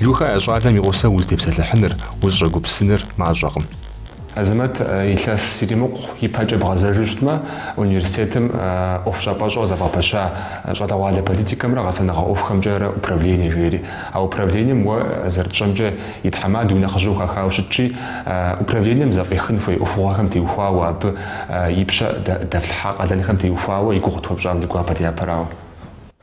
Люха, а щӏалэм и гъусэу узытепсэлъыхьыныр, узыщӏэгупсыныр мащӏэкъым. Азэмэт илъэс иримыкъу ипэкӏэ бгъэзэжу щытмэ, университетым ӏуэхущӏапӏэщӏэ зэвгъэпэща щӏалэгъуалэ политикэмрэ гъэсэныгъэ ӏуэхухэмкӏэрэ управление жери. А управлением уэ зэрытщӏэмкӏэ и тхьэмадэу и нэхъыжьу хахауэ щытщи, управлением зэфӏихын хуей ӏуэхугъуэхэм теухуауэ, абы и пщэ дэфлъхьа къалэнхэм теухуауэ и гугъу тхуэпщӏам ди гуапэт япэрауэ.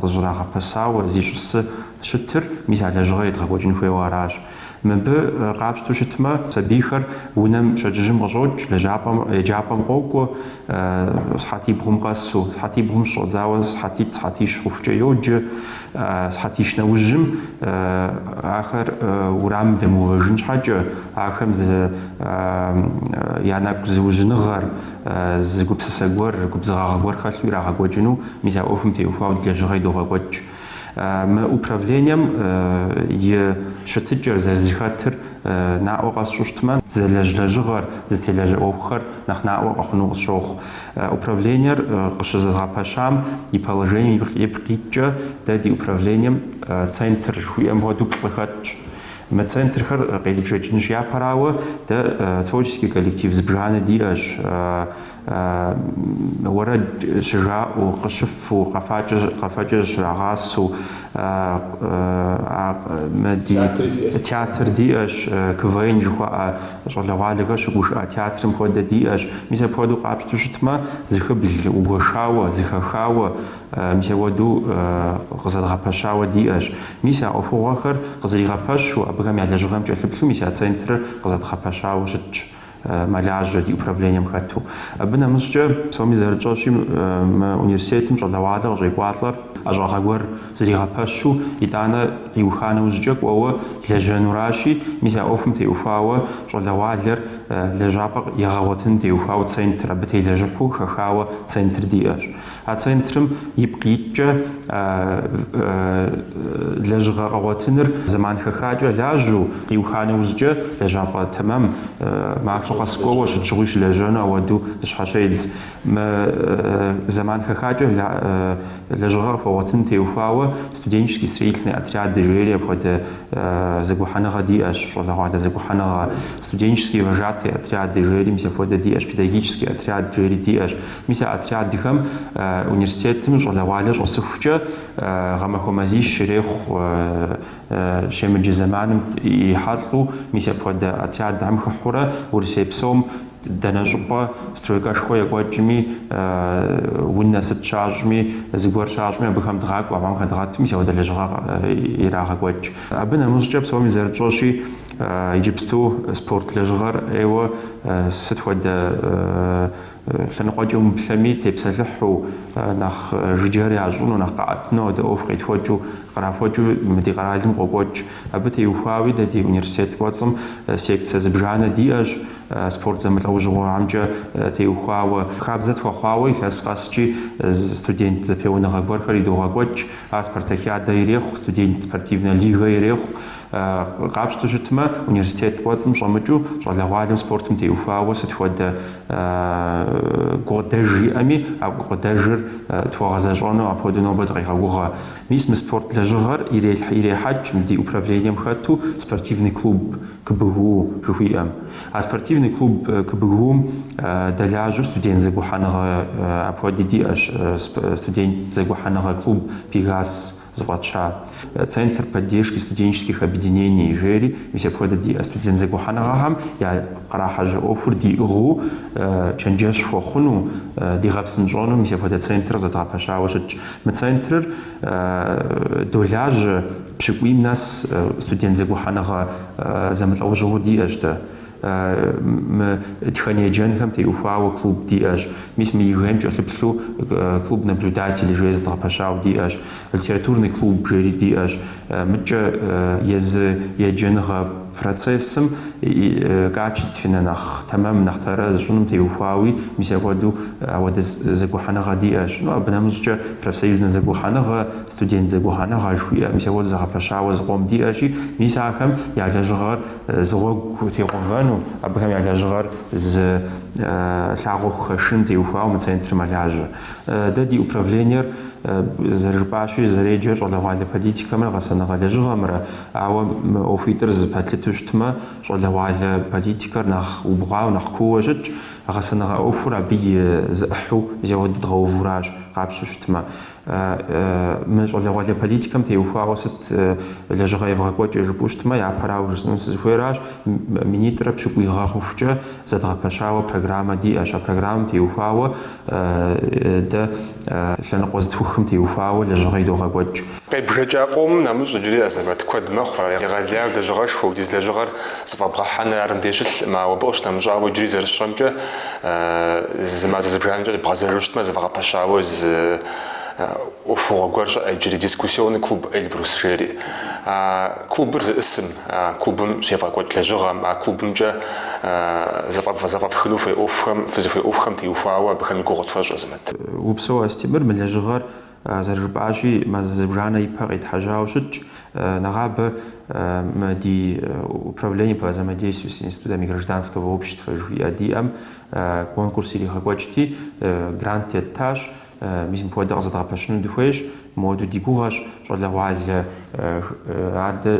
къызщӏрагъэпэщауэ зищӏысу щытыр, мис а лэжьыгъэр едгъэкӏуэкӏын хуейуэ аращ. Мыбы къапщтэу щытмэ, сабийхэр унэм пщэдджыжьым къыщӏокӏ, лэжьапӏэм, еджапӏэм къокӏуэ, сыхьэтибгъум къэсу. Сыхьэтибгъум щыщӏэдзауэ сыхьэтитӏ, сыхьэтищ хъухукӏэ йоджэ. Сыхьэтищ нэужьым ахэр урамым дэмыувэжын щхьэкӏэ, ахэм зы я нэгу зыужьыныгъэр, Зы гупсысэ гуэр, губзыгъагъэ гуэр хэлъу ирагъэкӏуэкӏыну мис а ӏуэхум теухуауэ ди лэжьыгъэри догъэкӏуэкӏ. Мы управлением и щытыкӏэр, зэрызэхэтыр наӏуэ къэсщӏу щытмэ, зэлэжь лэжьыгъэр, зытелажьэ ӏуэхухэр нэхъ наӏуэ къэхъуну къысщохъу. Управлениер къыщызэдгъэпэщам и положением ипкъ ипкъ иткӏэ дэ ди управлением центр жыхуиӏэм хуэдэу плӏы хэтщ. Мы центрхэр къезбжэкӏынущ япэрауэ, дэ творческий коллектив зыбжанэ диӏэщ, уэрэд щыжаӏэу, къыщыфэу, къэфэкӏэ зыщрагъасэу. Мы ди театр диӏэщ, КВН жыхуаӏэ щӏалэгъуалэхэр щыгушыӏэ театрым хуэдэ диӏэщ. Мис апхуэдэу къапщтэу щытмэ, зыхыблу гуэшауэ, зыхэхауэ. Мис апхуэдэу къызэдгъэпэщауэ диӏэщ. Мис а ӏуэхугъуэхэр къызэригъэпэщу, абыхэм я лэжьыгъэм кӏэлъыплъу мис а центрыр къызэдгъэпэщауэ щытщ, мэлажьэ ди управлением хэту. Абы нэмыщӏкӏэ, псоми зэрытщӏэщи, мы университетым щӏалэгъуалэ къыщӏекӏуалӏэр, ӏэщӏагъэ гуэр зригъэпэщу, итӏанэ иуха нэужькӏэ кӏуэуэ лэжьэнуращи, мис а ӏуэхум теухуауэ щӏалэгъуалэр лэжьапӏэ егъэгъуэтыным теухуауэ центр, абы телэжьыхьу хэхауэ центр диӏэщ. А центрым ипкъ иткӏэ лэжьыгъэ къэгъуэтыныр зэман хэхакӏэ лажьэу, къиуха нэужькӏэ лэжьапӏэ тэмэм, махуэ къэс кӏуэуэ щыт щыгъуи щылэжьэну апхуэдэу зыщхьэщедз. Мы зэман хэхакӏэ лэжьыгъэ къыхуэгъуэтын теухуауэ Студенческий строительный отряды жери апхуэдэ зэгухьэныгъэ диӏэщ, щӏалэгъуалэ зэгухьэныгъэ, Студенческие вожатые отряды жери мис апхуэдэ диӏэщ, Педагогический отряд жери диӏэщ. Мис а отрядхэм университетым щӏалэгъуалэ щӏэсыхукӏэ гъэмахуэ мазищ ирехъу щемыджэ зэманым ирихьэлӏэу. Мис апхуэдэ отрядхэм хыхьурэ Урысей псом дэнэ щӏыпӏэ стройкэшхуэ екӏуэкӏми, унэ сыт щащӏми, зыгуэр щащӏми абыхэм дгъакӏуэ, абыхэм хэдгъэту мис апхуэдэ лэжьыгъэ ирагъэкӏуэкӏ. Абы нэмыщӏкӏэ, псоми зэрытщӏэщи, иджыпсту спорт лэжьыгъэр ӏейуэ сыт хуэдэ Лъэныкъуэкӏэ умыплъэми, тепсэлъыхьу, нэхъ жыджэр ящӏыну, нэхъ къаӏэтыну апхуэдэ ӏуэху къетхьэкӏыу, кърахьэкӏыу мы ди къэралым къокӏуэкӏ. Абы теухуауи дэ ди университет кӏуэцӏым секцэ зыбжанэ диӏэщ, спорт зэмылӏэужьыгъуэхэмкӏэ теухуауэ. Хабзэ тхуэхъуауэ илъэс къэскӏи студент зэпеуэныгъэ гуэрхэр идогъэкӏуэкӏ, ар спартакиадэ ирехъу, студент спортивнэ лигэ ирехъу, Къапщту щытмэ, университет кӏуэцӏым щӏэмыкӏыу щӏалэгъуалэм спортым теухуауэ сыт хуэдэ гукъыдэж иӏэми, а гукъыдэжыр тхуэгъэзэщӏэну апхуэдэу нобэ дыкъегъэгугъэ. Мис мы спорт лэжьыгъэр ирехьэкӏ мы ди управлением хэту спортивный клуб КБГУ жыхуиӏэм. А спортивный клуб КБГУ-м дэлажьэу студент зэгухьэныгъэ апхуэди диӏэщ, студент зэгухьэныгъэ клуб Пегас зыфӏэтща, Центр поддержки студенческих объединений жери, мис апхуэдэ диӏэ студент зэгухьэныгъэхэм я кърахьэжьэ ӏуэхур диӏыгъыу чэнджэщ хуэхъуну, дигъэпсынщӏэну мис апхуэдэ центрыр зэдгъэпэщауэ щытщ. Мы центрыр долажьэ пщыкӏуийм нэс студент зэгухьэныгъэ зэмылӏэужьыгъуэу диӏэщ дэ. Мы тхэн еджэнхэм теухуауэ клуб диӏэщ. Мис мы ЕГЭ-м кӏэлъыплъу клуб наблюдателей жери зэдгъэпэщауэ диӏэщ. Литературный клуб жери диӏэщ. Мыдкӏэ езы еджэныгъэ процессым и качественнэ, нэхъ тэмэм, нэхъ тэрэз щӏыным теухуауи, мис апхуэдэу апхуэдэ зэгухьэныгъэ диӏэщ. Ну, абы нэмыщӏкӏэ профсоюзнэ зэгухьэныгъэ, Студент зэгухьэныгъэ жыхуиӏэ мис ауэду зэгъэпэщауэ зы къом диӏэщи, мис ахэм я лэжьыгъэр зы гъуэгу тегъэувэну, абыхэм я лэжьыгъэр зы лъагъуэ хухэшын теухуауэ мы центрыр мэлажьэ. Дэ ди управлениер зэрыжыпӏащи, зэреджэр щӏалэгъуалэ политикэмрэ гъэсэныгъэ лэжьыгъэмрэ, ауэ мы ӏуэхуитӏыр зэпэтлъыту щытмэ, щӏалэгъуалэ политикэр нэхъ убгъуауэ, нэхъ кууэ щытщ, гъэсэныгъэ ӏуэхур абы и зы ӏыхьу зеуэддгъэувуращ, къапщтэу щытмэ. Мы щӏалэгъуалэ политикэм теухуауэ сыт лэжьыгъэ евгъэкӏуэкӏыр жыпӏэу щытмэ, япэрауэ жысӏэну сызыхуейращ, минитӏрэ пщыкӏуй гъэ хъухукӏэ зэдгъэпэщауэ программэ диӏэщ. А программэм теухуауэ дэ лъэныкъуэ зытхухым теухуауэ лэжьыгъэ идогъэкӏуэкӏ. Къебжэкӏа къомым нэмыщӏ иджыри Азэмэт куэд мэхъу, ар егъэлеяу лэжьыгъэшхуэ, ауэдиз лэжьыгъэр Зэфӏэбгъэхьэныр ар мыбдеж щылъкъым, ауэ абы къыщынэмыщӏауэ, иджыри зэрысщӏэмкӏэ, зы мазэ зыбжанэкӏэ бгъэзэжу щытмэ, зэвгъэпэщауэ зы ӏуэхугъуэ гуэр щыӏэщ иджыри, Дискуссионный клуб Эльбрус жери. А клубыр зищӏысым, а клубым щевгъэкӏуэкӏ лэжьыгъэм, а клубымкӏэ зэфӏэфхыну хуей ӏуэхухэм, фызыхуей ӏуэхухэм теухуауэ абыхэм и гугъу тхуэщӏ, Азэмэт. Упсэу, Астемыр, мы лэжьыгъэр Зэрыжыпӏащи, мазэ зыбжанэ и пэ къитхьэжьауэ щытщ нэгъабэ мы ди Управление по взаимодействию с институтами гражданского общества жыхуиӏэ диӏэм конкурс иригъэкӏуэкӏти, грант еттащ. Мис мыпхуэдэ къызэдгъэпэщыну дыхуейщ, мыуэду ди гугъэщ щӏалэгъуалэ адэ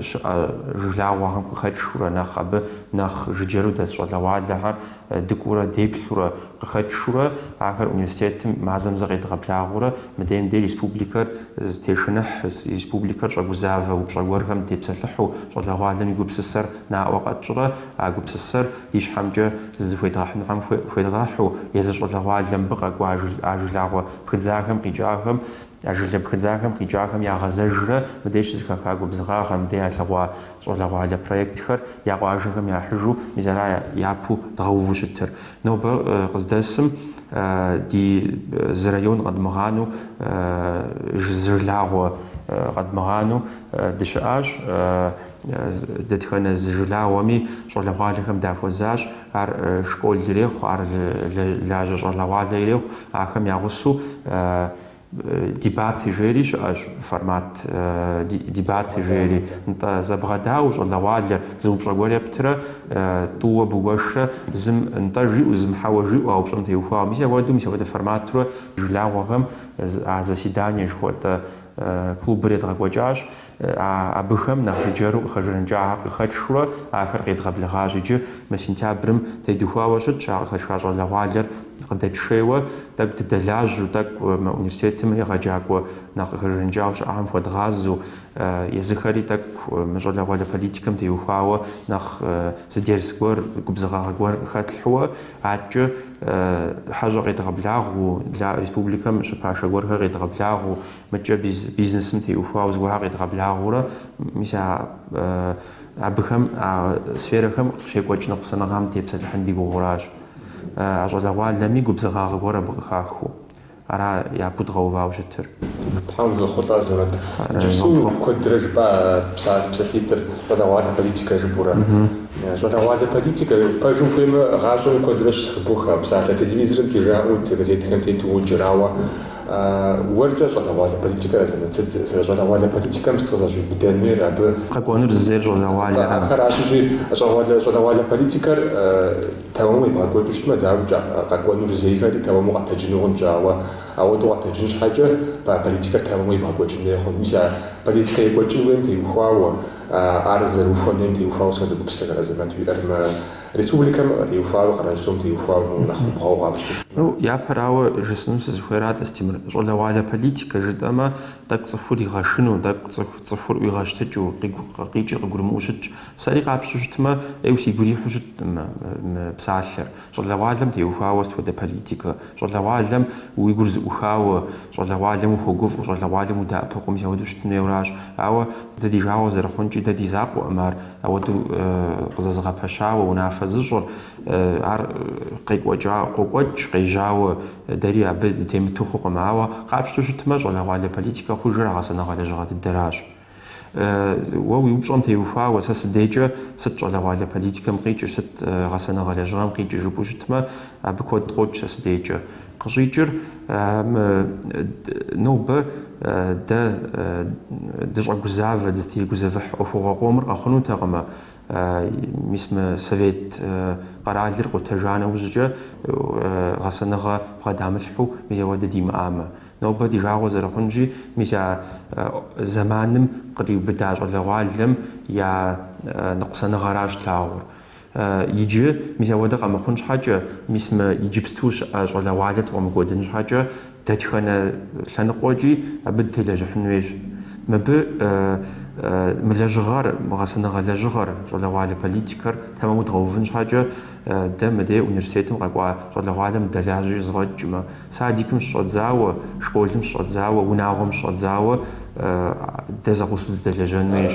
щыӏэ жылагъуэхэм къыхэкӏхыурэ нэхъ абы нэхъ жыджэру дэс щӏалэгъуалэхэр Дыкӏуурэ, деплъурэ, къыхэтшурэ ахэр университетым мазэм зэ къедгъэблагъэурэ мы дейм дей республикэр зытешыныхь, республикэр щӏэгузавэ упщӏэ гуэрхэм тепсэлъыхьу щӏалэгъуалэм и гупсысэр наӏуэ къэтщӏрэ а гупсысэр ищхьэмкӏэ зыхуедгъэхьынухэм хуедгъэхьу, езы щӏалэгъуалэ мыбы къэкӏуа а жылагъуэ пхыдзахэм къикӏахэм А жылэ пхыдзахэм къикӏахэм ягъэзэжрэ мыдей щызэхаха губзыгъагъэр, мыдей ялъэгъуа щӏалэгъуалэ проектхэр я къуажэхэм яхьыжу мис ара япэу дгъэуву щытыр. Нобэ къыздэсым ди зы район къэдмыгъанэу, зы жылагъуэ къэдмыгъанэу дыщыӏащ. Дэтхэнэ зы жылагъуэми щӏалэгъуалэхэм дахуэзащ. Ар школ ирехъу, ар лажьэ щӏалэгъуалэ ирехъу. Ахэм я гъусэу дебаты жери щыӏэщ, формат дебаты жери. Нтӏэ, зэбгъэдауэ щӏалэгъуалэр, зы упщӏэ гуэр ептырэ, тӏууэ бгуэшрэ, зым нтӏэ жиӏэу, зым хьэуэ жиӏэу а упщӏэм теухуауэ. Мис ауэду, мис апхуэдэ форматурэ жылагъуэхэм а заседание жыхуэтӏэ клубыр едгъэкӏуэкӏащ. Абыхэм нэхъ жыджэру къыхэжаныкӏахэр къыхэтшри ахэр къедгъэблэгъащ иджы. Мы сентябрым тедухуауэ щытщ а къыхэтха щӏалэгъуалэр къыдэтшейуэ. Тӏэкӏу дыдэлажьэу, тӏэкӏу мы университетым егъэджакӏуэ нэхъ къыхэжаныкӏауэ щыӏэхэм хуэдгъазэу, езыхэри тӏэкӏу мы щӏалэгъуалэ политикэм теухуауэ нэхъ зы дерс гуэр, губзыгъагъэ гуэр хэтлъхьэу, адкӏэ хьэщӏэ къедгъэблагъэу, республикэм щыпашэ гуэрхэр къедгъэблагъэу, Мыдкӏэ бизнесым теухуауэ зыгуэрхэр къедгъэблагъэурэ, мис а абыхэм, а сферэхэм щекӏуэкӏ ныкъусаныгъэм тепсэлъыхьын ди гугъэуращ. А щӏалэгъуалэми губзыгъагъэ гуэр абы къыхахыу. Ара япэу дгъэувауэ щытыр. Тхьэм фригъэхъулӏэ, Азэмэт. Иджыпсту куэдрэ жыпӏа псалъитӏыр, щӏалэгъуалэ политикэ жыпӏэурэ. Щӏалэгъуалэ политикэ, пэжым хуеймэ, гъащӏэм куэдрэ щызэхыбох а псалъэр. Телевизорымкӏи жаӏэу, газетхэм тету уоджэр, ауэ Уэркӏэ щӏалэгъуалэ политикэр Азэмэт, сыт, щӏалэгъуалэ политикэм сыт къызэщӏиубыдэнуир абы? Къэкӏуэнур зызейр щӏалэгъуалэрамэ, ахэращи, щӏалэгъуалэ политикэр тэмэму ебгъэкӏуэкӏыу щытмэ, дауикӏэ, къэкӏуэнур зейхэри тэмэму къэтэджыну хъунщ, ауэ ауэдэу къэтэджын щхьэкӏэ политикэр тэмэму ебгъэкӏуэкӏын хуей хъунт. Мис а политикэ екӏуэкӏын хуейм теухуауэ, ар зэрыухуэн хуейм теухуауэ сыт хуэдэ гупсысэхэр Азэмэт, уиӏэр мы Республикэм теухуауи къэралпсом теухуауи нэхъ убгъуауэ къапщтэмэ. Ну, япэрауэ жысӏэным сызыхуейрат, Астемыр, щӏалэгъуалэ политикэ жытӏэмэ, тӏэкӏу цӏыхур игъэшыну, тӏэкӏу цӏыху цӏыхур ӏуигъэщтыкӏыу, къикӏ, къикӏри къыгурымыӏуэу щытщ. Сэри къапщтэу щытмэ, ӏейуэ си гу ирихьу щыткъым мы псалъэр. Щӏалэгъуалэм теухуауэ сыт хуэдэ политикэ? Щӏалэгъуалэм уи гур зэӏухауэ, щӏалэгъуалэм ухуэгуфӏэу, щӏалэгъуалэм удэӏэпыкъуу мис ауэдэу щытын хуейуэращ. Ауэ дэ ди жагъуэ зэрыхъункӏи, дэ ди закъуэкъым ар. Ауэдэу къызэзыгъэпэщауэ унафэ зыщӏыр, ар къекӏуэкӏа, къокӏуэкӏ, къежьауэ дэри абы дытемыту хъукъым. Ауэ къапщтэу щытмэ, щӏалэгъуалэ политикэ хъужыр а гъэсэныгъэ лэжьыгъэ дыдэращ. Уэ уи упщӏэм теухуауэ, сэ си дейкӏэ сыт щӏалэгъуалэ политикэм къикӏыр, сыт гъэсэныгъэ лэжьыгъэм къикӏыр жыпӏэу щытмэ, абы куэд къокӏ сэ си дейкӏэ. Къыщӏикӏыр нобэ дэ дыщӏэгузавэ, дызытегузэвыхь ӏуэхугъуэ къомыр къэхъунутэкъымэ, мис мы совет къэралыр къутэжа нэужькӏэ гъэсэныгъэ бгъэдамылъхьэу мис апхуэдэ димыӏамэ. Нобэ ди жагъуэ зэрыхъунщи, мис а зэманым къриубыда щӏалэгъуалэм я ныкъусаныгъэращ тлъагъур. Иджы, мис апхуэдэ къэмыхъун щхьэкӏэ, мис мы иджыпсту щыӏэ щӏалэгъуалэр ткъуэмыкӏуэдын щхьэкӏэ, дэтхэнэ лъэныкъуэкӏи абы дытелэжьыхьын хуейщ. Мыбы мы лэжьыгъэр, мы гъэсэныгъэ лэжьыгъэр, щӏалэгъуалэ политикэр тэмэму дгъэувын щхьэкӏэ, дэ мыдей университетым къэкӏуа щӏалэгъуалэм дэлажьэкӏэ зэфӏэкӏмэ, садикым щыщӏэдзауэ, школым щыщӏэдзауэ, унагъуэм щыщӏэдзауэ дэ зэкъусу дызэдэлэжьэн хуейщ.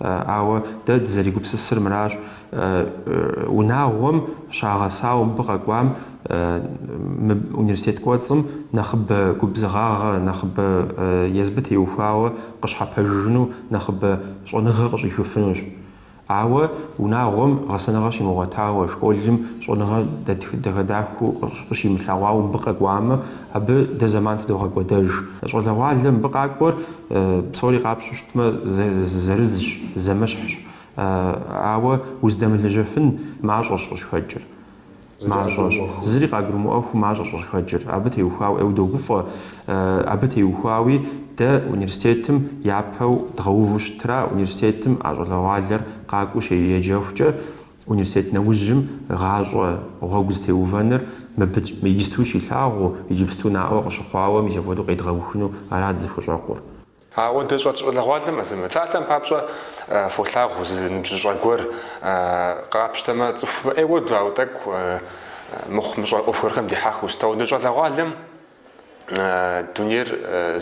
Ауэ дэ дызэригупсысыр мыращ, унагъуэм щагъэсауэ мыбы къэкӏуам, мы университет кӏуэцӏым нэхъыбэ губзыгъагъэ, нэхъыбэ езыбы теухуауэ къыщхьэпэжыжыну, нэхъыбэ щӏэныгъэ къыщӏихыфынущ. Ауэ унагъуэм гъэсэныгъэ щимыгъуэтауэ, школым щӏэныгъэ дахэ-дахэу къыщимылъэгъуауэ мыбы къэкӏуамэ, абы дэ зэман тыдогъэкӏуэдэж. Щӏалэгъуалэ мыбы къакӏуэр Псори къапщтэу щытмэ, зы-зы-зырызщ, зэмыщхьщ. А-ауэ уздэмылэжьэфын мащӏэщ къыщыхэкӏыр. Мащӏэщ. Зыри къагурымыӏуэххэу мащӏэщ къыщыхэкӏыр. Абы теухуауэ, ей догуфӏэ. А-абы теухуауи дэ университетым япэу дгъэуву щытра, университетым а щӏалэгъуалэр къакӏуэу щеджэхукӏэ, Университет нэужьым гъащӏэ гъуэгу зытеувэныр мыбыкӏ иджыпсту щилъагъуу, иджыпсту наӏуэ къыщыхъуауэ мис апхуэдэу къедгъэухыну ара дызыхущӏэкъур. Ауэдэ щӏэ- щӏалэгъуалэм зы, псалъэм папщӏэ фолъагъу зы ныбжьыщӏэ гуэр, къапщтэмэ, цӏыху мыӏей хуэдэу, ауэ тӏэкӏу мыхъумыщӏэ ӏуэху гуэрхэм дихьэхыу. Сыт ауэдэ щӏалэгъуалэм Дунейр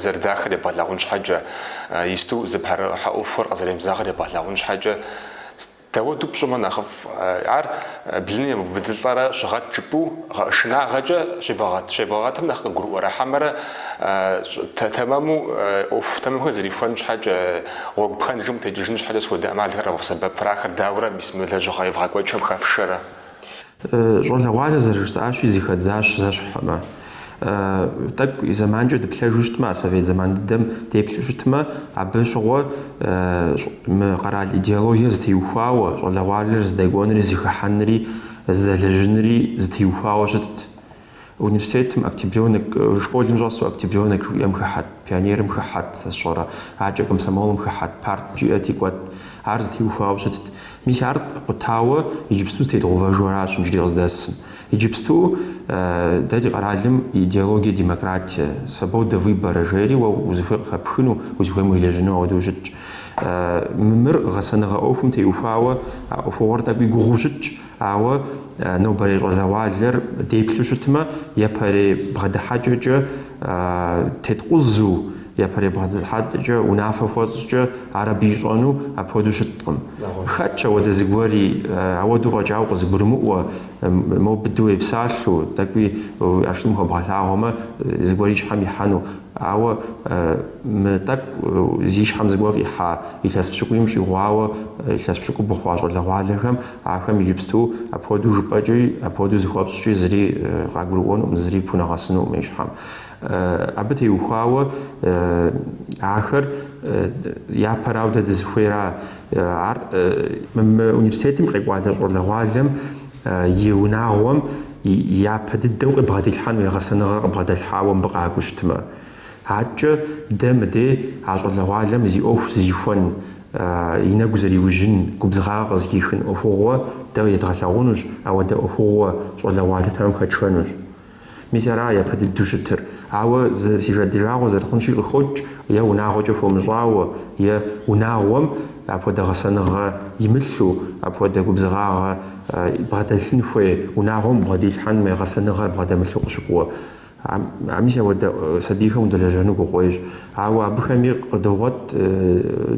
зэрыдахыр ебгъэлъагъун щхьэкӏэ, иджыпсту зыпэрыхьэ ӏуэхухэр къызэремызагъэр ебгъэлъагъун щхьэкӏэ, дауэду пщӏымэ нэхъыфӏ, ар блыным ебубыдылӏэрэ щыгъэт жыпӏэу шынагъэкӏэ щебгъэгъэт. Щебгъэгъэтым нэхъ къыгурыӏуэрэ, хьэмэрэ тэмэму ӏуэху тэмэмхэр зэрихуэн щхьэкӏэ, гъуэгу пхэнжым къытекӏыжын щхьэкӏэ схуэдэ ӏэмалхэр къэвгъэсэбэпрэ, ахэр дауэрэ мис мы лэжьыгъэ евгъэкӏуэкӏхэм хэфшэрэ? Щӏалэгъуалэр зэрыжысӏащи, зэхэдзащ зэщхьмэ. Тӏэкӏу зэманкӏэ дыплъэжу щытмэ, а совет зэман дыдэм деплъу щытмэ, абы щыгъуэ мы къэрал идеологиер зытеухуауэ, щӏалэгъуалэр зыдэкӏуэнри зыхыхьэнри зэлэжьынри зытеухуауэ щытт. Университетым октябрёнок, школым щӏэсу октябрёнок жыхуиӏэм хыхьэт, пионерым хыхьэт, сэ сщӏэрэ, адэкӏэ комсомолым хыхьэт, парт жиӏэти кӏуэт. Ар зытеухуауэ щытт. Мис ар къутауэ иджыпсту зытедгъэувэжу аращ иджыри къыздэсым. Иджыпсту дэ ди къэралым идеология демократие, свобода выбора жери уэ узыхуей къыхэпхыну, узыхуейм уелэжьыну ауэдэу щытщ. Мы мыр гъэсэныгъэ ӏуэхум теухуауэ а ӏуэхугъуэр тӏэкӏуи гугъуу щытщ, Ауэ нобэрей щӏалэгъуалэр деплъу щытмэ, япэрей бгъэдыхьэкӏэкӏэ тепкъузэу, япэрей бгъэдыхьэкӏэкӏэ унафэ хуэпщӏкӏэ ар абы ищӏэну апхуэдэу щыткъым. Хэтщ апхуэдэ зыгуэри, апхуэдэу фӏэкӏауэ къызыгурымыӏуэ, мо быдэу уепсалъэу, тӏэкӏуи уи ӏэштӏым хуэбгъэлъагъуэмэ, зыгуэри и щхьэм ихьэну. Ауэ мы тӏэкӏу зи щхьэм зыгуэр къихьа илъэс пщыкӏуийм щӏигъуауэ илъэс пщыкӏубгъу хъуа щӏалэгъуалэхэм, Ахэм иджыпсту апхуэдэу жыпӏэкӏи, апхуэдэу зыхуэпщӏкӏи зыри къагурыӏуэнукъым, зыри пхунэгъэсынукъым и щхьэм. Абы теухуауэ ахэр япэрау дэ дызыхуейра ар? Мы университетым къекӏуалӏэ щӏалэгъуалэм и унагъуэм япэ дыдэу къыбгъэдилъхьэн хуей гъэсэныгъэ къыбгъэдэлъхьауэ мыбы къакӏуэу щытмэ. Адэкӏэ дэ мыдей а щӏалэгъуалэм зи ӏуэху зэрихуэн, и нэгу зэриужьын, губзыгъагъэ къызыхихын ӏуэхугъуэ дэ едгъэлъагъунущ, ар дэ ӏуэхугъуэ щӏалэгъуалэ тэмэм хэтшэнущ. Мис аращ япэ дыдэу щытыр. Ауэ си жа ди жагъуэ зэрыхъунщи къыхокӏ, е унагъуэкӏэ хуэмыщӏауэ, е унагъуэм апхуэдэ гъэсэныгъэ имылъу, апхуэдэ губзыгъагъэ бгъэдэлъын хуей унагъуэм бгъэдилъхьэн хуей гъэсэныгъэр бгъэдэмылъу къыщыкӏуэ. А мис апхуэдэ сабийхэм удэлэжьэну гугъущ. Ауэ абыхэми къыдогъуэт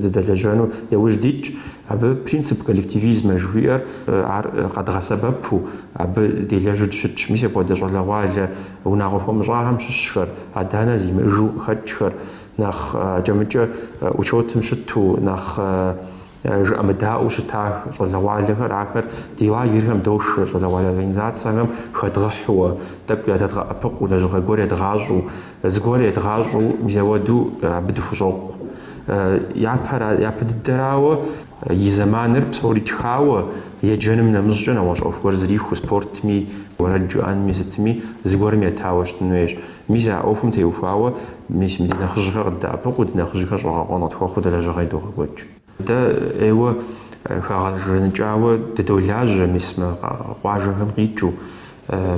дыдэлэжьэну яужь дитщ. Абы принцип коллективизм жыхуиӏэр ар къэдгъэсэбэпу абы делэжьу дыщытщ. Мис апхуэдэ щӏалэгъуалэ унагъуэ хуэмыщӏахэм щыщхэр, адэ-анэ зимыӏыжу къыхэкӏхэр, нэхъ акӏэ-мыкӏэ учетым щыту, нэхъ Э, жыӏэмыдаӏуэу щытах щӏалэгъуалэхэр, ахэр ди лагерхэм дошэ, щӏалэгъуалэ организацэхэм хэдгъэхьууэ, тӏэкӏу зыдэдгъэӏэпыкъуу, лэжьыгъэ гуэр едгъащӏэу, зыгуэр едгъащӏэу, мис апхуэдэу э, абы дыхущӏокъу. Э, япэр, япэ дыдэрауэ, и зэманыр псори итхауэ, еджэным нэмыщӏкӏэ нэгъуэщӏ ӏуэху гуэр зэрихуэу, спортми, уэрэд жыӏэнми, сытми, зыгуэрым етауэ щытын хуейщ. Мис а ӏуэхум теухуауэ, мис мы ди нэхъыжьхэр къыддэӏэпыкъуу, ди нэхъыжьхэр щӏэгъэкъуэн къытхуэхъуу дэ лэжьыгъэи идогъэкӏуэкӏ. Дэ ӏейуэ хэгъэзыхьауэ дыдолажьэ мис мы къуажэхэм къикӏыу,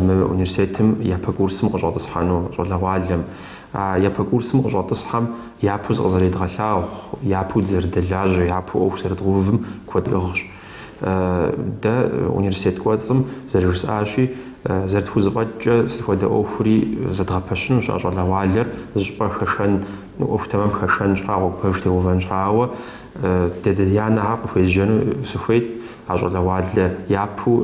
мы университетым япэ курсым къыщӏэтӏысхьэну щӏалэгъуалэм. А япэ курсым къыщӏэтӏысхьэм япэу зыкъызэридгъэлъагъу, япэу дызэрыдэлажьэ, япэу ӏуэху зэрыдгъэувым куэд иӏыгъщ. Дэ университет кӏуэцӏым зэрыжысӏащи, зэрытхузэфӏэкӏкӏэ сыт хуэдэ ӏуэхури зэдгъэпэщынущ, а щӏалэгъуалэр зыщӏыпӏэ хэшэн, ӏуэху тэмэм хэшэн щхьа гъуэгу пэж теувэн щхьа, ауэ дэ адэ-анэхэр къыхуезжэну сыхуейт а щӏалэгъуалэ япэу,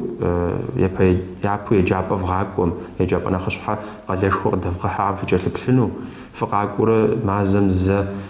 япэу еджапӏэ вгъакӏуэм, еджапӏэ нэхъыщхьэ къалэшхуэ къыдэвгъэхьэхэм фыкӏэлъыплъыну, фыкъакӏуэурэ мазэм зэ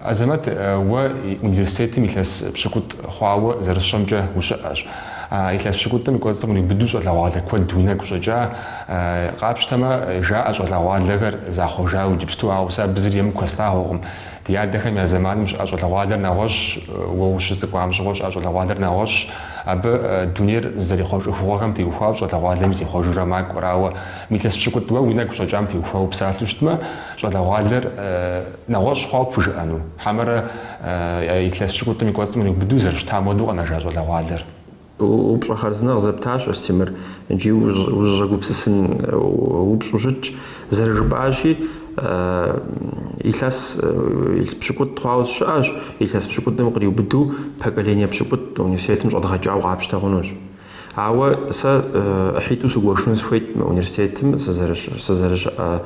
Азэмэт, уэ университетым илъэс пщыкӏутӏ хъуауэ зэрысщӏэмкӏэ ущыӏэщ. А илъэс пщыкӏутӏым и кӏуэцӏым къриубыду щӏалэгъуалэ куэд уи нэгу щӏэкӏа. Къапщтэмэ, жаӏэ щӏалэгъуалэхэр захъуэжауэ иджыпсту, ауэ сэ абы зыри емыкӏу хэслъагъуэкъым. Ди адэхэм я зэманым щыӏэ щӏалэгъуалэр нэгъуэщӏщ, уэ ущыцӏыкӏуам щыгъуэ щыӏэ щӏалэгъуалэр нэгъуэщӏщ. Абы дунейр зызэрихъуэж ӏыхугъуэхэм теухуауэ щӏалэгъуалэми зихъуэжурэ макӏуэр, ауэ, илъэс пщыкӏутӏ уэ уи нэгу щӏэкӏам теухуауэ псалъэу щытмэ, щӏалэгъуалэр, Нэгъуэщӏ хъуауэ пхужыӏэну? Хьэмэрэ илъэс пщыкӏутӏым и кӏуэцӏым къриубыду зэрыщытам хуэдэу къэнэжа щӏалэгъуалэр? Упщӏэ хъарзынэ къызэптащ Астемыр икӏи узыщӏэгупсысын упщӏу щытщ. Зэрыжыпӏащи, илъэс пщыкӏутӏ хъуауэ сщыӏэщ, илъэс пщыкӏутӏым къриубыду поколение пщыкӏутӏ университетым щӏэдгъэкӏауэ къапщтэ хъунущ. Ауэ сэ ӏыхьитӏу сыгуэшыну сыхуейт мы университетым сызэрыщыӏэ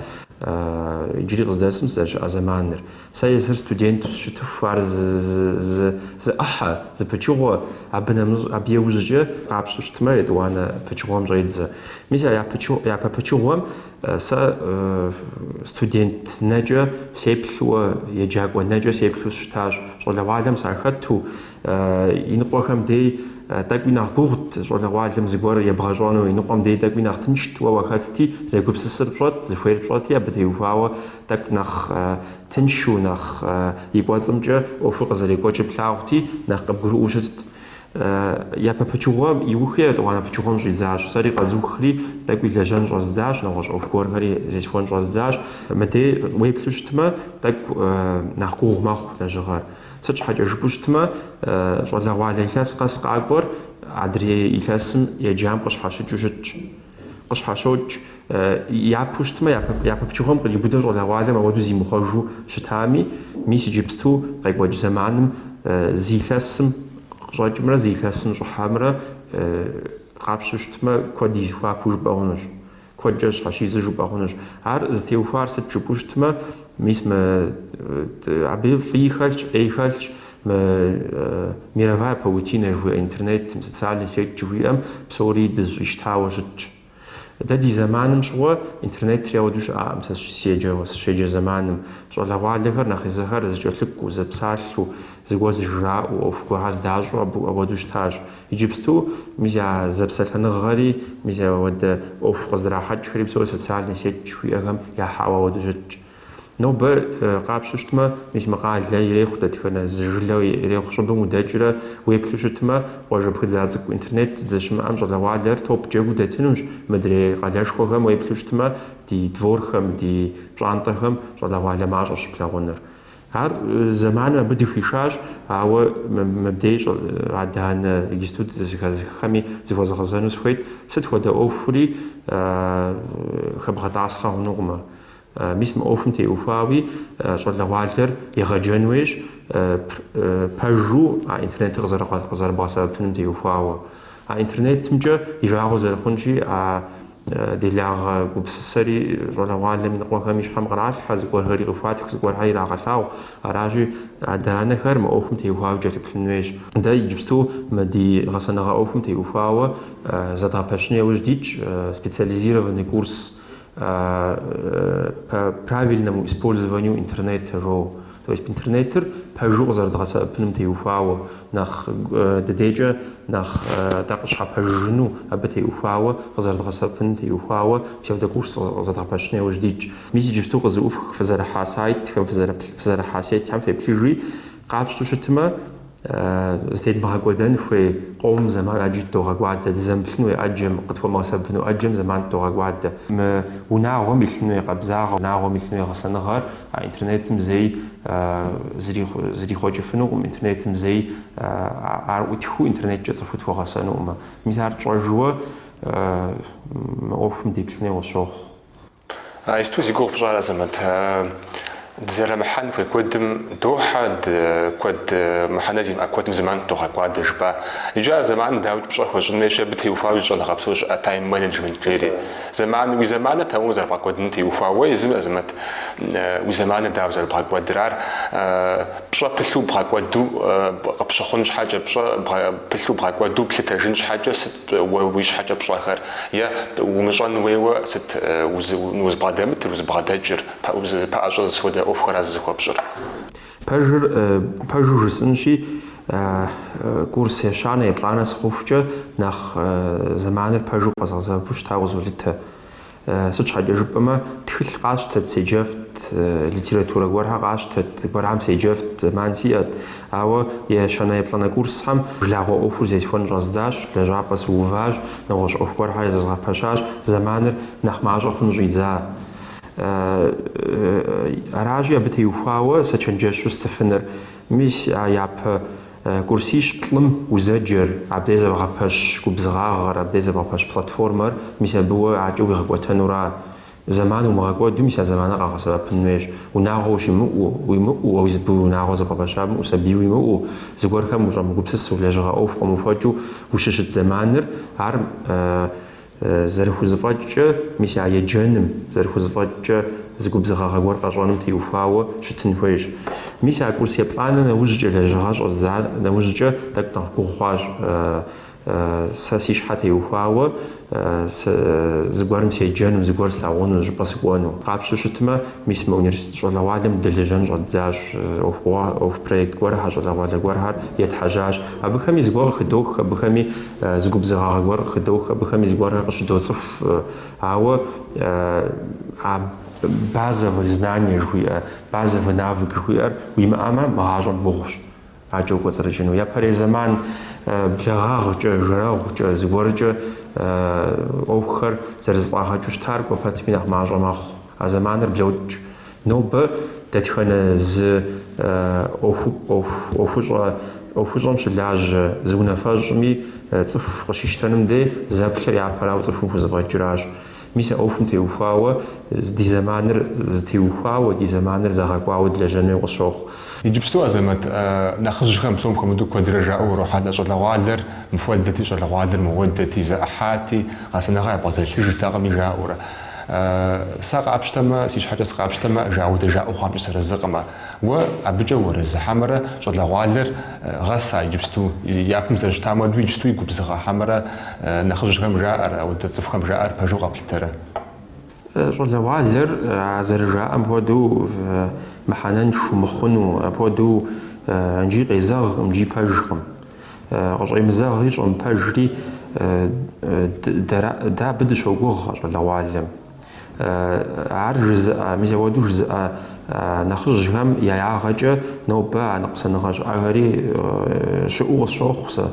Иджыри къыздэсым сызэрыщыӏэ зэманыр. Сэ езыр студенту сыщытыху ар зы ӏыхьэ, зы пычыгъуэ, абы нэмыщӏ, абы иужькӏэ къапщту щытмэ, етӏуанэ пычыгъуэм щӏедзэ. Мис а япэ пычыгъуэм сэ студент нэкӏэ сеплъу, еджакӏуэ нэкӏэ сеплъу сыщытащ, щӏалэгъуалэм сахэту. Иныкъуэхэм дей тӏэкӏуи нэхъ гугъут щӏалэгъуалэм зыгуэр ебгъэщӏэну, иныкъуэм дей тӏэкӏуи нэхъ тыншт, уэ уахэтти, зэгупсысыр пщӏэт, зыхуейр пщӏэти, абы теухуауэ тӏэкӏу нэхъ тыншу, нэхъ и кӏуэцӏымкӏэ ӏуэхур къызэрекӏуэкӏыр плъагъути, нэхъ къыбгурыӏуэу щытт. Япэ пычыгъуэ иухри етӏуанэ пычыгъуэм щӏидзащ, сэри къэзухри тӏэкӏуи лэжьэн щӏэздзащ, нэгъуэщӏ ӏуэху гуэрхэри зесхуэн щӏэздзащ. Мыдей уеплъу щытмэ, тӏэкӏу нэхъ гугъу мэхъу лэжьыгъэр. Сыт щхьэкӏэ жыпӏэу щытмэ, щӏалэгъуалэ илъэс къэс къакӏуэр адрей илъэсым еджам къыщхьэщыкӏыу щытщ. Къыщхьэщокӏ, япэу щытмэ, япэ пычыгъуэм къриубыдэу щӏалэгъуалэм ауэдэу зимыхъуэжу щытами, мис иджыпсту къекӏуэкӏ зэманым зы илъэсым къыщӏэкӏымрэ зы илъэсым щӏыхьэмрэ къапщту щытмэ, куэд и зэхуакуу жыпӏэ хъунущ. Куэдкӏэ щхьэщидзу жыпӏэ хъунущ. Ар зытеухуар сыт жыпӏэу щытмэ, мис мы абы фӏыи хэлъщ, ӏеи хэлъщ, мы мировая паутина жыхуиӏэ интернетым, социальный сеть жыхуиӏэм псори дызыщӏищтауэ щытщ. Дэ ди зэманым щыгъуэ интернетри ауэдэу щыӏакъым, сэ сыщеджэу, сыщеджэ зэманым. Щӏалэгъуалэхэр нэхъ езыхэр зэкӏэлъыкӏуэу, зэпсалъэу, зыгуэр зыжраӏэу, ӏуэху гуэрхэр зэдащӏэу абы хуэдэу щытащ. Иджыпсту мис а зэпсэлъэныгъэри, мис ауэдэ ӏуэху къызэрахьэкӏхэри псори социальный сеть жыхуиӏэхэм яхьауэ ауэдэу щытщ. Нобэ къапщту щытмэ, мис мы къалэ ирехъу дэтхэнэ зы жылэ ирехъу щӏыбым удэкӏрэ уеплъу щытмэ, къуажэ пхыдза цӏыкӏу интернет здэщымыӏэм щӏалэгъуалэр топ джэгуу дэтынущ, мыдрей къалэшхуэхэм уеплъу щытмэ, ди дворхэм, ди пщӏантӏэхэм щӏалэгъуалэ мащӏэщ щыплъагъунур. Ар зэманым абы дыхуишащ, ауэ мыбдеж щӏы, адэ-анэ институт зэхэзыххэми зыхуэзгъэзэну сыхуейт, сыт хуэдэ ӏуэхури хэбгъэтӏасхъэ хъунукъым. Мис мы ӏуэхум теухуауи щӏалэгъуалэр егъэджэн хуейщ, пэжу а интернетыр къызэрыбгъэсэбэпыным теухуауэ. А интернетымкӏэ и жагъуэ зэрыхъунщи, а Делагъэ гупсысэри щӏалэгъуалэм и ныкъуэхэм и щхьэм къралъхьэ, зыгуэрхэри къыхуатх, зыгуэрхэр ирагъэлъагъу. Аращи, адэ-анэхэр мы ӏуэхум теухуауэ кӏэлъыплъын хуейщ. Дэ иджыпсту мы ди гъэсэныгъэ ӏуэхум теухуауэ зэдгъэпэщын яужь дитщ специализированный курс по правильному использованию интернета жоуэ. То есть интернетыр пэжу къызэрыдгъэсэбэпыным теухуауэ, нэхъ ди дейкӏэ нэхъ дэ къытщхьэпэжыну абы теухуауэ, къызэрыдгъэсэбэпыным теухуауэ псевдокурс зэдгъэпэщын яужь дитщ. Мис иджыпсту къызэӏуфх фызэрыхьа сайтхэм, фызэрыхьа сетхэм феплъыжи, къапщту щытмэ, Зытедмыгъэкӏуэдэн хуей къомым зэман ӏэджи тыдогъэкӏуадэ, дызэмыплъын хуей ӏэджэм, къытхуэмыгъэсэбэпыну ӏэджэм зэман тыдогъэкӏуадэ. Мы унагъуэм илъын хуей къабзагъэ, унагъуэм илъын хуей гъэсэныгъэр а интернетым зэи зэрихъуэкӏыфынукъым, интернетым зэи ар ӏутхыу интернеткӏэ цӏыхур тхуэгъэсэнукъымэ. Мис ар тщӏэжу мы ӏуэхум деплъын хуей къысщохъу. А исту зи гугъу пщӏар, Азэмэт, дызэрымыхьэн хуей куэдым дохьэ, ды куэд мыхьэнэ зимыӏэ куэдым зэман тыдогъэкӏуадэ, жыпӏа. Иджы а зэманыр дауикӏ пщӏэ хуэщӏын хуейщ абы теухуауэ зы щӏэныгъэ псо щыӏэ тайм-менеджмент жери. Зэман, уи зэманыр дауэ зэрыбгъэкӏуэдыным теухуауэ езым, Азэмэт, уи зэманыр дауэ зэрыбгъэкӏуэдыр, ар пщӏэ пылъу бгъэкӏуэду къыпщыхъун щхьэкӏэ, пщӏэ пылъу бгъэкӏуэду плъытэжын щхьэкӏэ сыт Уэ уи щхьэкӏэ пщӏэхэр? Е умыщӏэн хуейуэ сыт узыбгъэдэмытыр, узыбгъэдэкӏыр? Пэӏэщӏэ сыт хуэдэ ӏуэхухэра зызыхуэпщӏыр? Пэжыр пэжу жысӏынщи, курс ещанэ, еплӏанэ сыхъухукӏэ, нэхъ зэманыр пэжу къэзгъэсэбэпу щытауэ къызолъытэ. Сыт щхьэкӏэ жыпӏэмэ, тхылъ къасщтэт, седжэфт, литературэ гуэрхэр къасщтэт, зыгуэрхэм седжэфт зэман сиӏэт. Ауэ ещанэ-еплӏанэ курсхэм жылагъуэ ӏуэхур зесхуэн щӏэздзащ, лэжьапӏэ сыуващ, нэгъуэщӏ ӏуэху гуэрхэр зэзгъэпэщащ, зэманыр нэхъ мащӏэ хъун щӏидза. Аращи, абы теухуауэ сэ чэнджэщу стыфынур. Мис а япэ. Курсищ-плӏым узэджэр, абдей зэбгъэпэщ губзыгъагъэр, абдей зэбгъэпэщ платформэр, мис абы уэ адэкӏэ уигъэкӏуэтэнура? Зэман умыгъэкӏуэду, мис а зэманыр къагъэсэбэпын хуейщ. Унагъуэ ущимыӏэу, уимыӏэу, уэ уи зы быуи унагъуэ зэбгъэпэща щымыӏэу, сабий уимыӏэу, зыгуэрхэм ущӏэмыгупсысу, лэжьыгъэ ӏуэху къыумыхуэкӏыу ущыщыт зэманыр, ар Зэрыхузэфӏэкӏкӏэ, мис а еджэным, зэрыхузэфӏэкӏкӏэ зы губзыгъагъэ гуэр къэщӏэным теухуауэ щытын хуейщ. Мис а курс еплӏанэ нэужькӏэ лэжьыгъэ щӏэздза нэужькӏэ тӏэкӏу нэхъ гугъу хъуащ. Сэ си щхьэ теухуауэ зыгуэрым седжэну, зыгуэр слъагъуну, зыщӏыпӏэ сыкӏуэну. Къапщтэу щытмэ, мис мы университет щӏалэгъуалэм дылэжьэн щӏэддзащ, ӏуэху проект гуэрхэр, щӏалэгъуалэ гуэрхэр етхьэжьащ. Абыхэми зыгуэр къыхыдох, абыхэми зы губзыгъагъэ гуэр къыхыдох, абыхэми зыгуэрхэр къыщыдоцӏыху, ауэ а базовые знания жыхуиӏэ, базовый навык жыхуиӏэр уимыӏэмэ, мы гъащӏэм гугъущ аджэ укӏуэцӏрыкӏыну. Япэрей зэман благъагъкӏэ, жэрэгъукӏэ, зыгуэркӏэ ӏуэхухэр зэрызэфӏагъэкӏыу щытар кӏуэ пэтми нэхъ мащӏэ мэхъу. А зэманыр блокӏ. Нобэ дэтхэнэ зы ӏуэхущӏэм щылажьэ зы унафэщӏми цӏыху къыщищтэным де зэплъыр япэрауэ цӏыхум хузэфӏэкӏыращ. Мис а ӏуэхум теухуауэ ди зэманыр зэтеухуауэ, ди зэманыр зэгъэкӏуауэ дылэжьэн хуей къысщохъу. Иджыпсту, Азэмэт, нэхъыжьхэм псом хуэмыдэу куэдрэ жаӏэу урохьэлӏэ, щӏалэгъуалэр мыхуэдэти, щӏалэгъуалэр мыхуэдэти, зэӏыхьати, гъэсэныгъэ ябгъэдэлъыжтэкъыми жаӏэурэ. Сэ къапщтэмэ, си щхьэкӏэ сыкъапщтэмэ, ауэдэ жаӏэу хъуамкӏэ сыарэзыкъым. Уэ абыкӏэ уарэзы хьэмэрэ щӏалэгъуалэр гъэса иджыпсту, япэм зэрыщытам уэду иджыпстуи губзыгъэ хьэмэрэ нэхъыжьхэм жаӏэр, ауэдэ цӏыхухэм жаӏэр пэжу къэплъытэрэ? Щӏалэгъуалэр а зэрыжаӏэм хуэдэу мыхьэнэншэу мыхъуну, апхуэдэу икӏи къезэгъкъым, икӏи пэжкъым. Къыщӏемызэгъри щӏэмыпэжри, дэ абы дыщогугъ, а щӏалэгъуалэм. Ар жызыӏэ, мис апхуэдэу жызыӏэ нэхъыжьхэм я ягъэкӏэ нобэ а ныкъусаныгъэ щыӏэхэри щыӏэу къысщохъу сэ.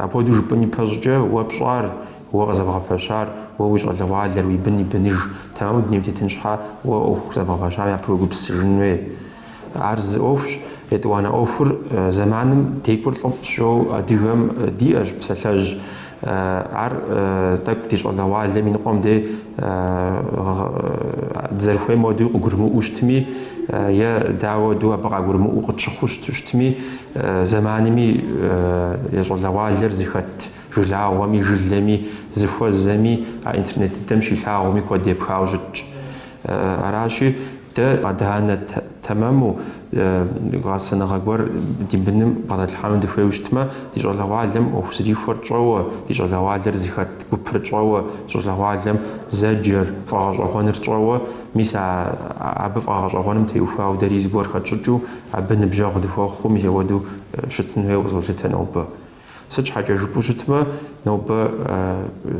Апхуэдэу жыпӏэн ипэщӏыкӏэ, уэ пщӏар, уэ къызэбгъэпэщар, уэ уи щӏалэгъуалэр, уи бын и быныж, тэмэму дунейм тетын щхьэ, уэ ӏуэху зэбгъэпэщам япэу уегупсысыжын хуей. Ар зы ӏуэхущ, етӏуанэ ӏуэхур зэманым декӏур лӏыфӏщ жиӏэу адыгэм диӏэщ псалъэжь. Ар тӏэкӏу ди щӏалэгъуалэм и ныкъуэм де дызэрыхуейм уэду къыгурымыӏуэу щытми, е дэ ауэду абы къагурымыӏуэу къытщыхъуу щытми, зэманми е щӏалэгъуалэр зыхэт жылагъуэми, жылэми, зыхуэзэми, а интернет дыдэм щилъагъуми куэд епхауэ щытщ. Аращи, дэ адэ-анэ тэмэму гъэсэныгъэ гуэр ди быным бгъэдэтлъхьэну дыхуейуэ щытмэ, ди щӏалэгъуалэм ӏуэху зэрихуэр тщӏэуэ, ди щӏалэгъуалэр зыхэт гупыр тщӏэуэ, ди щӏалэгъуалэм зэджэр, фӏэгъэщӏэгъуэныр тщӏэуэ, мис а абы фӏэгъэщӏэгъуэным теухуауэ дэри зыгуэр хэтщӏыкӏыу абы ныбжьэгъу дыхуэхъуу, мис апхуэдэу щытын хуейуэ къызолъытэ нобэ. Сыт щхьэкӏэ жыпӏэу щытмэ, нобэ,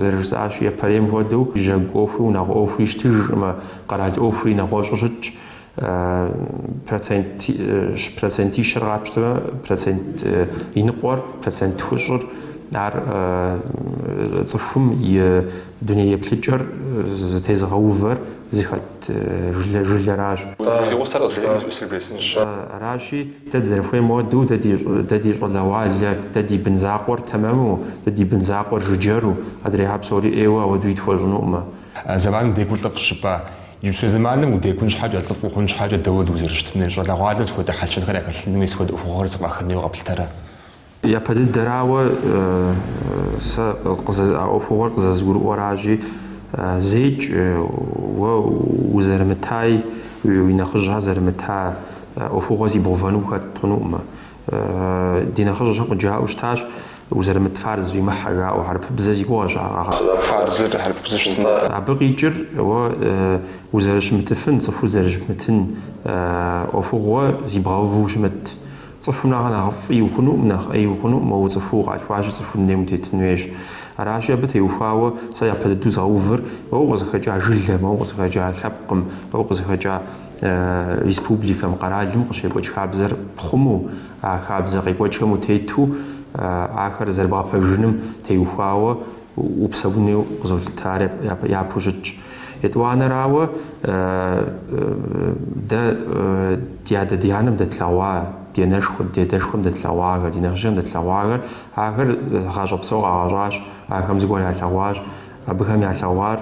зэрыжысӏащи, япэрейм хуэдэу, жьэгу ӏуэхуи унагъуэ ӏуэхуи щытыжкъымэ, къэрал ӏуэхури нэгъуэщӏу щытщ, процент, процентищэр къапщтэмэ, процент и ныкъуэр, процент тхущӏыр, ар цӏыхум и Дуней еплъыкӏэр зытезыгъэувэр зыхэт жылэращ. Зи гъусэр къызжеӏэну сыжесынщ. Аращи, дэ дызэрыхуейм хуэдэу, дэ ди щӏалэгъуалэр, дэ ди бын закъуэр тэмэму, дэ ди бын закъуэр жыджэру, адрейхэр псори ӏейуэ ауэдуи тхуэщӏынукъымэ. Зэманым декӏур лӏыфӏщ жыпӏа, иджыпстурей зэманым удекӏун щхьэкӏэ, лӏыфӏ ухъун щхьэкӏэ дауэ дызэрыщытынур, щӏалэгъуалэм сыт хуэдэ хьэл-щэнхэр яхэлъынуи, сыт хуэдэ ӏуэхугъуэхэр зэфӏахынуи къэплъытэрэ? Япэ дыдэрауэ сэ а ӏуэхугъуэр къызэзгурыӏуэращи, зэикӏ уэ узэрымытаи, уи нэхъыжьхэр зэрымыта ӏуэхугъуэ зибгъэувэну ухэт хъунукъымэ. Ди нэхъыжьхэм къыджаӏэу щытащ, Узэрымыт фарз уимыхьэ, жаӏэу, хьэрыпыбзэ си гугъэщ ар къэгъэӏуэр. Фарзыр хьэрыпыбзэу щытмэ. Абы къикӏыр уэ узэрыщымытыфын, цӏыхур зэрыщымытын ӏуэхугъуэ зибгъэуву ущымыт. Цӏыхум нэхърэ нэхъыфӏи ухъунукъым, нэхъ ӏеи ухъунукъым, уэ цӏыхуу укъалъхуащи, цӏыху дунейм утетын хуейщ. Аращи, абы теухуауэ сэ япэ дыдэу згъэувыр уэ укъызыхэкӏа жылэм, уэ укъызыхэкӏа лъэпкъым, уэ укъызыхэкӏа республикэм, къэралым къыщекӏуэкӏ хабзэр пхъумэу, а хабзэ къекӏуэкӏхэм утету ахэр зэрыбгъэпэжыным теухуауэ упсэуну къызолъытэ, ар япэу щытщ. Етӏуанэрауэ, дэ ди адэ ди анэм дэтлъэгъуа, ди анэшхуэм, ди адэшхуэм дэтлъэгъуахэр, ди нэхъыжьхэм дэтлъэгъуахэр, ахэр гъащӏэ псо къагъэщӏащ, ахэм зыгуэр ялъэгъуащ. Абыхэм ялъэгъуар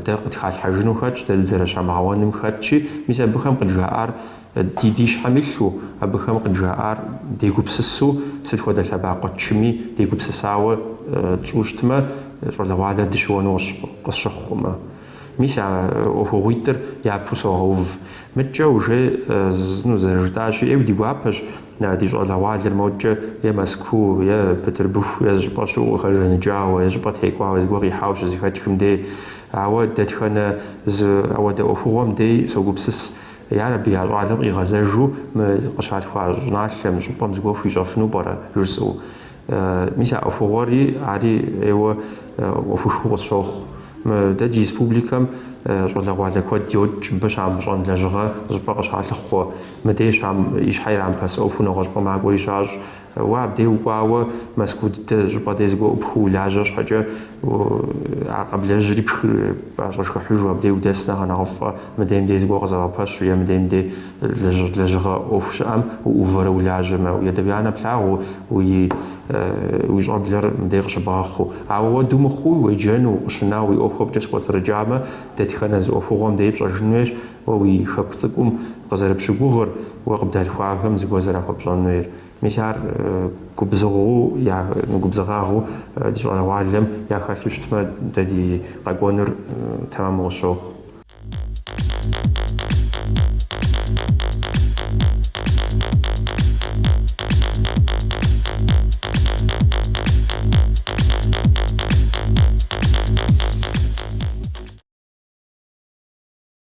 дэ къытхалъхьэжыну хэтщ, дэ дызэрыщамыгъэуэным хэтщи, мис абыхэм къыджаӏар Ди ди щхьэм илъу, абыхэм къыджаӏар дегупсысу, сыт хуэдэ лъэбакъуэ тчыми дегупсысауэ тщӏу щытмэ, щӏалэгъуалэр дыщыуэну къысщыхъукъымэ. Мис а ӏуэхугъуитӏыр япэу согъэув. Мыдкӏэ уже зэрыжытӏащи, ӏейуэ ди гуапэщ ди щӏалэгъуалэр модкӏэ е Мэзкуу, е Бытырбыху, е зы щӏыпӏэ щыӏэу къыхэжаныкӏауэ, е щӏыпӏэ текӏуауэ зыгуэр къихьауэ щызэхэтхым дей. Ауэ дэтхэнэ зы ауэдэ ӏуэхугъуэм дей согупсыс Ар абы я щӏалэм къигъэзэжу мы къыщалъхуа щӏыналъэм, щӏыпӏэм зыгуэр хуищӏэфыну пӏэрэ? жысӏэу. Мис а ӏуэхугъуэри ари ӏейуэ ӏуэхушхуэу къысщохъу. Мы дэ ди республикэм щӏалэгъуалэ куэд йокӏ мыбы щамыщӏэн лэжьыгъэ щӏыпӏэ къыщалъыхъуэ. Мыдей щам и щхьэ ирамыпэс ӏуэху нэгъуэщӏыпӏэ макӏуэри щащӏ. Уэ абдей укӏуауэ Мэзкуу дыдэ щӏыпӏэ дей зыгуэр ӏупхыу улажьэ щхьэкӏэ, а къэблэжьри пӏэщӏэшхыхьыжу абдей удэс нэхърэ нэхъыфӏэ, мыдейм дей зыгуэр къызэбгъэпэщу е мыдейм дей лэжьыгъэ ӏуэху щыӏэм уӏувэрэ улажьэмэ, уи адэ-уи анэ плъагъуу, уи щӏэблэр мыдей къыщыбгъэхъуу. Ауэ апхуэду мыхъуу, уеджэну, укъыщынауэ, уи ӏуэхухэмкӏэ щыкӏуэцӏрыкӏамэ, дэтхэнэ зы ӏуэхугъуэм дей пщӏэжын хуейщ, Уэ уи Хэку цӏыкӏум къызэрыпщыгугъыр, уэ къыбдалъхуахэм зыгуэр зэрахуэпщӏэн хуейр. Мис ар губзыгъэу губзыгъагъэу ди щӏалэгъуалэм я хэлъу щытмэ, дэ ди къэкӏуэнур тэмэму къысщохъу.